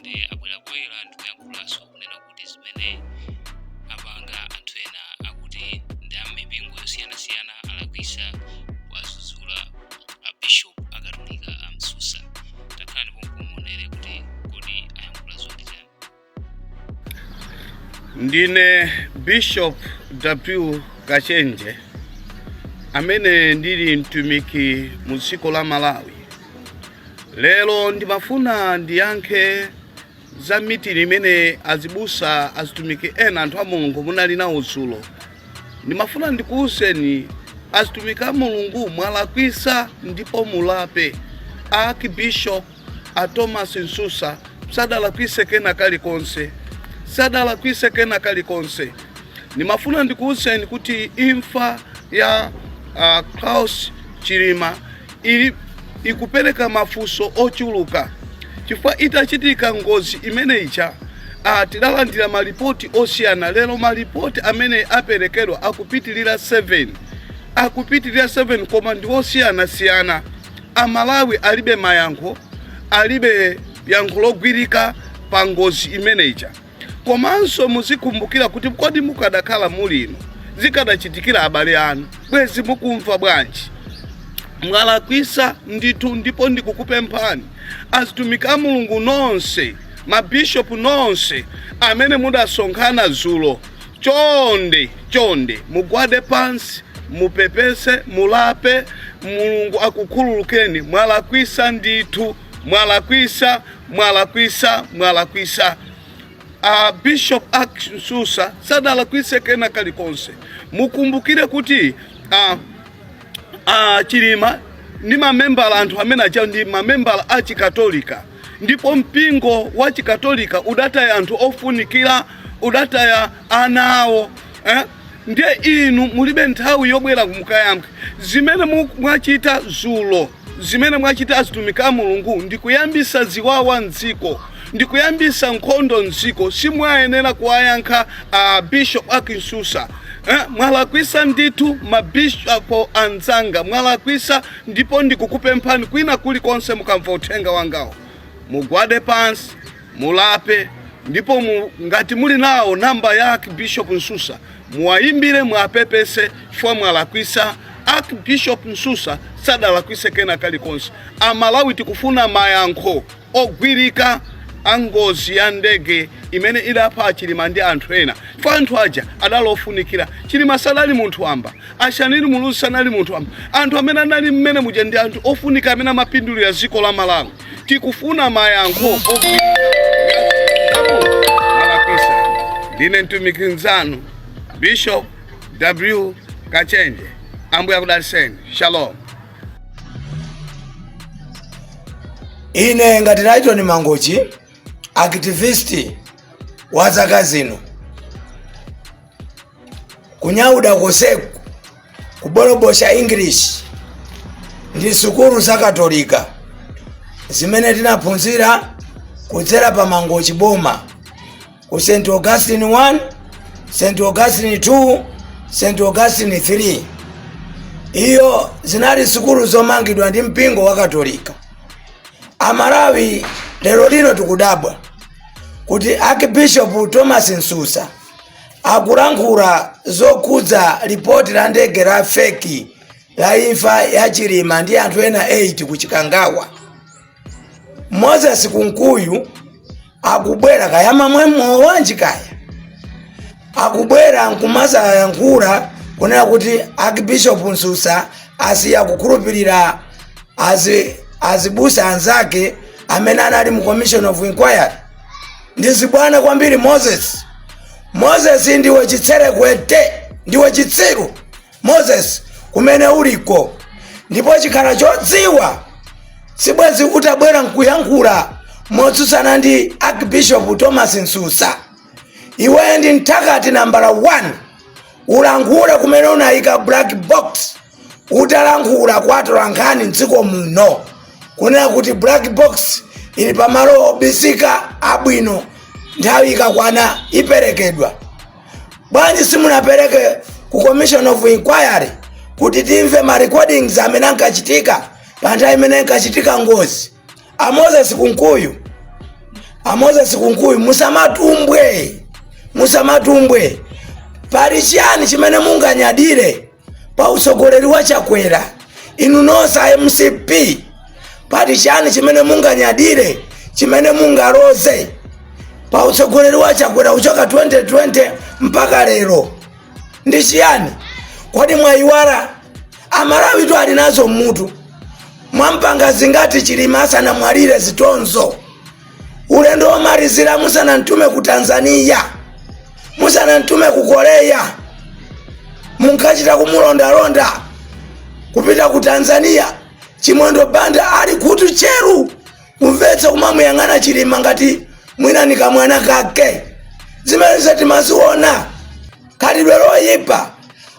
ndi abwerabwera ndikuyankhulanso kunena kuti zimene apanga anthu ena akuti ndi a mipingo yosiyanasiyana alakwisa kuwazuzula abishop akatolika a msusa takhala ndipo muonere kuti kodi ayankhula zoti chani ndine bishop w kachenje amene ndili mtumiki mu dziko la malawi Lero ndimafuna ndiyankhe za mitingi imene azibusa azitumiki ena anthu a mulungu munali nawo dzulo ndimafuna ndikuwuzeni azitumiki a mulungu mwalakwisa ndipo mulape a archbishop a thomas msusa sadalakwise kena kalikonse sadalakwise kena kalikonse ndimafuna ndikuwuzeni kuti imfa ya uh, klaus chilima ikupereka mafunso ochuluka chifukwa itachitika ngozi imene ija ah, tidalandira malipoti osiyana lero malipoti amene aperekedwa akupitirira 7 akupitirira 7 koma ndi osiyanasiyana amalawi alibe mayankho alibe yankho logwirika pa ngozi imene ija Komanso muzikumbukira kuti kodi mukadakhala muli inu zikadachitikira abale anu, bwezi mukumva bwanji? Mwalakwisa ndithu ndipo ndikukupemphani azitumiki a Mulungu nonse, mabishopu nonse amene mudasonkhana zulo, chonde chonde mugwade pansi mupepese, mulape, Mulungu akukhululukeni. Mwalakwisa ndithu. mwalakwisa mwalakwisa mwalakwisa a bishop a msusa sadalakwise kena kalikonse mukumbukire kuti a, a chilima ndi mamembala anthu amene aja ndi mamembala a chikatolika ndipo mpingo wa chikatolika udataya anthu ofunikira udataya ana awo eh? ndiye inu mulibe nthawi yobwera kumukayankhe zimene mu- mwachita zulo Zimene mwachita azitumiki a Mulungu ndi kuyambisa ziwawa m'dziko ndi kuyambisa nkhondo m'dziko. Simumayenera kuwayankha a Bishop ak Msusa. Eh, mwalakwisa ndithu ma bishop anzanga, mwalakwisa ndipo ndikukupemphani kwina kuli konse mukamva uthenga wangawu mugwade pansi mulape ndipo mu, ngati muli nayo namba ya Archbishop Msusa muwayimbire muwapepese chifukwa mwalakwisa. Archbishop Msusa sadalakwise kena kalikonse. Amalawi tikufuna mayankho ogwirika a ngozi ya ndege imene idapha a Chilima ndi anthu ena chifukwa anthu aja adali ofunikira. Chilima sadali munthu wamba, a Shanil Muluzi sanali munthu wamba. Anthu amene anali mmene muja ndi anthu ofunika amene amapindulira dziko la Malawi. Tikufuna mayankho ogwirika Ndine mtumiki mzanu Bishop W. Kachenje. Ambuye akudalitseni. Shalom. Ine ngati Lighton Mangochi activist wa zaka zino kunyada konseku kubolobosha english ndi sukulu za katolika zimene tinaphunzira kudzera pa mangochi boma ku st augustine 1 st augustine 2 st augustine 3 izo zinali sukulu zomangidwa ndi mpingo wa katolika amalawi lero lino tikudabwa kuti archbishop thomas msusa akulankhula zokhudza lipoti la ndege la feki la imfa ya chilima ndi anthu ena 8 ku chikangawa moses kunkuyu akubwera kaya amamwa mowa wanji kaya akubwera nkumazayankhula kunena kuti archbishop msusa asiya kukhulupirira azi- azibusa anzake amene anali mu commission of inquiry ndi zibwana kwambiri moses moses ndiwe chitserekwete ndiwe chitsiru moses kumene uliko ndipo ukhala wodziwa sibwezi utabwera nkuyankhula motsutsana ndi archbishop thomas msusa iwe ndi mthakati nambala 1 ulankhule kumene unayika black box utalankhula kwa atolankhani mdziko muno kunena kuti black box ili pamalo obisika abwino nthawi ikakwana iperekedwa bwanji simunapereke ku commission of inquiry kuti timve ma recordings amene ankachitika pa nthawi imene inkachitika ngozi a moses kunkuyu a moses kunkuyu musamatumbwe musamatumbwe pali chiyani chimene munganyadire pa utsogoleri wa chakwera inu nonse a mcp pali chiyani chimene munganyadire chimene mungaloze pa utsogoleri wa chakwera kuchoka 2020 mpaka lero ndi chiyani kodi mwayiwala amalawitu ali nazo mmutu mwampanga zingati chilima asanamwalire zitonzo ulendo womalizira musanamtume ku tanzania musanamtume ku korea munkachita kumulondalonda kupita ku tanzania chimwendo banda ali kutchera kumvetsa kumamuyang'ana chilima ngati mwina ni kamwana kake zimenezo timaziona khalidwe loyipa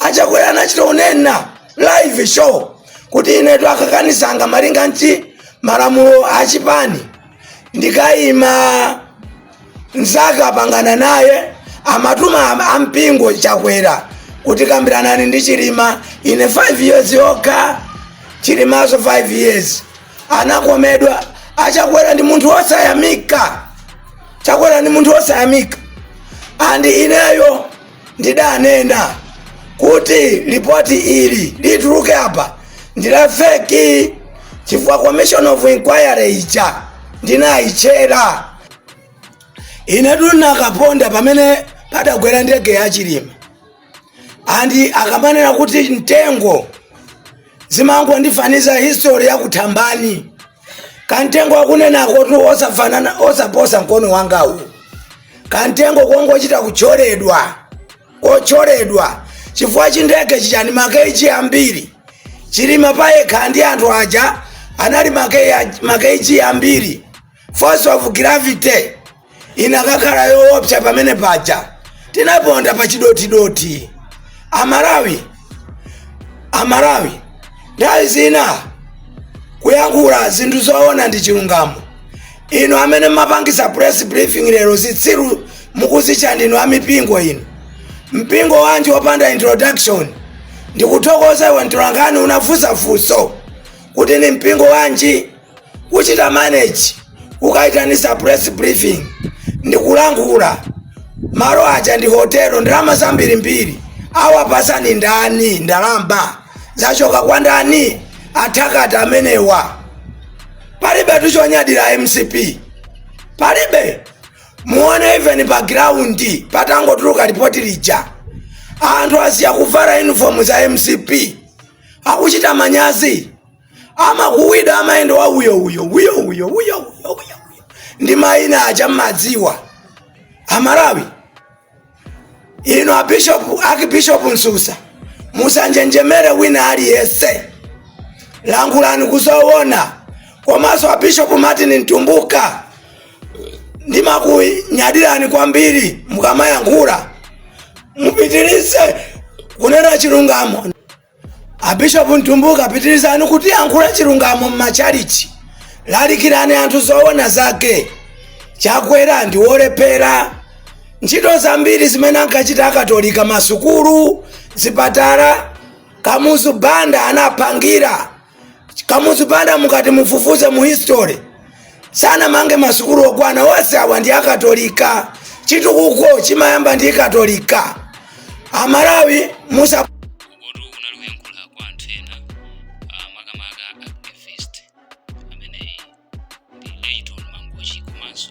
achakwera anachita kunena live show kuti inetu akakanisanga malinga ndi malamulo a chipani ndikayima mzake anapangana naye amatuma am- ampingo chakwera kuti kambiranani ndi chilima ine 5 years yokha chilimaso 5 years anakomedwa achakwera ndi munthu wosayamika chakwera ndi munthu wosayamika andi ineyo ndidanena kuti lipoti ili lituluke apa ndi la feki chifukwa commission of inquiry ija ndinayitchera inetu nakaponda pamene padagwera ndege ya chilima andi akamanena kuti mtengo zimangondifaniza history ya kuthambani kamtengo akunenakotu osafanana osaposa mkono wanga uwu kamtengo kongochita kutcholedwa kotcholedwa chifukwa chindege chijachi makeji ambiri chilima payekha ndi anthu aja anali make- makeji ambiri force of gravity inakakhala yoopsa pamene paja tinaponda pa chidotidoti amalawi amalawi nthawi zina kuyankhula zinthu zoona ndi chilungamo inu amene mumapangitsa press briefing lero zitsiru mukuzitcha ndinu amipingo inu mpingo wanji wopanda introduction ndikuthokoza iwe mtolankhani unafunsa funso kuti ndi mpingo wanji kuchita manage kukaitanitsa press briefing ndikulankhula malo aja ndi hotelo ndalama zambirimbiri awapatsani ndani ndalama zachoka kwa ndani athakati amenewa palibe tuchonyadira mcp palibe muone even pa ground patangotuluka lipoti lija anthu asiya kuvala uniform za mcp akuchita manyazi amakuwida amayenda wa uyo uyo uyo uyo uyo uyo uyo ndi mayina aja mmadziwa amalawi inu abishopu akibishopu msusa musanjenjemere wina aliyese lankhulani kuzoona komanso abishopu martin mtumbuka ndimakunyadirani kwambiri mukamayankhula mupitirize kunena chilungamo abishopu mtumbuka pitirizani kutiyankhula chilungamo m'machalichi lalikirani anthu zoona zake chakwera ndi wolephera ntchito zambiri zimene ankachita akatolika masukulu zipatala kamuzu banda anaphangira kamuzu banda mukati mufufuze mu history sanamange masukulu okwana onse awa ndi akatolika chitukuko chimayamba ndi katolika amalawi musa uku kotu unali kuyankhula kwa anthu ena ah, makamaka activist amene ndi leiton mangochi komanso